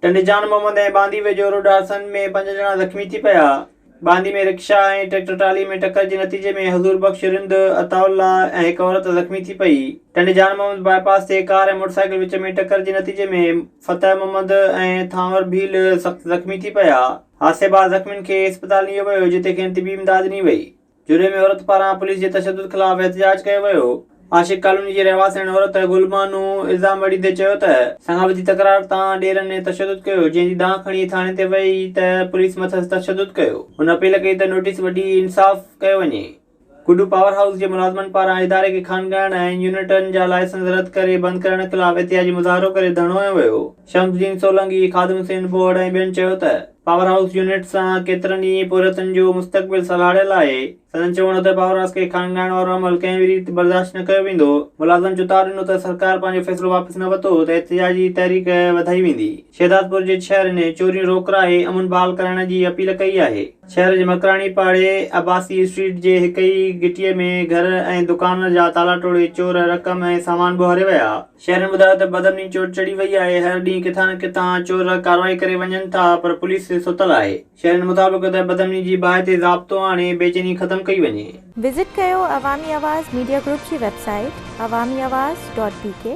ٽنڊي جان محمد ۽ باندي ويجهو روڊ حادثن ۾ پنج ڄڻا زخمي ٿي پيا. باندي ۾ رڪشا ۽ ٽريڪٽر ٽرالي ۾ ٽڪر جي نتيجي ۾ حضور بخش رند، عطاء الله ۽ هڪ عورت زخمي ٿي پئي. ٽنڊي جان محمد باء پاس تي ڪار ۽ موٽر سائيڪل وچ ۾ ٽڪر جي نتيجي ۾ فتح محمد ۽ ٿانور ڀيل سخت زخمي ٿي پيا. حادثي بعد زخمين کي اسپتال نيو ويو جتي کين طبي امداد ڏني وئي. جري ۾ عورت پاران پوليس جي تشدد خلاف احتجاج ڪيو ويو، عاشق ڪالوني جي رهواسيڻ عورت گل بانو الزام وڙهيندي چيو ته سان گڏ وڌي تڪرار تان ڏيرن ۽ تشدد ڪيو جنهن جي دانهن کڻي ٿاڻي تي وئي ته پوليس مٿس تشدد ڪيو، هن اپيل ڪئي ته نوٽيس وڍي انصاف ڪيو وڃي، گڊو پاور هائوس جي ملازمن پاران اداري کي خانگاهن ۽ يونٽن جا لائسنس رد ڪري بند ڪرڻ خلاف احتجاجي مظاهرو ڪري ڌرڻو هنيو ويو، شمس الدين سولنگي، خادم حسين بوهڙ ۽ ٻين چيو ته. پاور هائوس يونٽ سان ڪيترن ئي پورهيتن جو مستقبل سلهاڙيل آهي. سندن چوڻ هو ته پاور هائوس کي کانگائڻ وارو عمل ڪنهن به ريت برداشت نه ڪيو ويندو. ملازمن چتاء ڏنو ته سرڪار پنهنجو فيصلو واپس نه وتو ته احتجاجي تحريڪ وڌائي ويندي. شهدادپور جي ڇهر ۾ چوريون روڪرائي امن بحال ڪرائڻ جي اپيل ڪئي آهي. شهر جي مڪراڻي پاڙي عباسي اسٽريٽ جي هڪ ئي گهٽيء ۾ گهر ۽ دڪان جا تالا ٽوڙي چور رقم ۽ سامان ٻوهاري ويا. شهرين ٻڌايو ته بدامني چور چڙهي وئي آهي، هر ڏينهن ڪٿان نه ڪٿان چور ڪارروائي ڪري وڃن ٿا پر پوليس ستل آهي، شهرين مطابق ته بدامني جي باهه تي ضابطو آڻي بيچيني ختم ڪئي وڃي. وزٽ ڪيو عوامي آواز ميڊيا گروپ جي website Awami Awaz dot بي ڪي.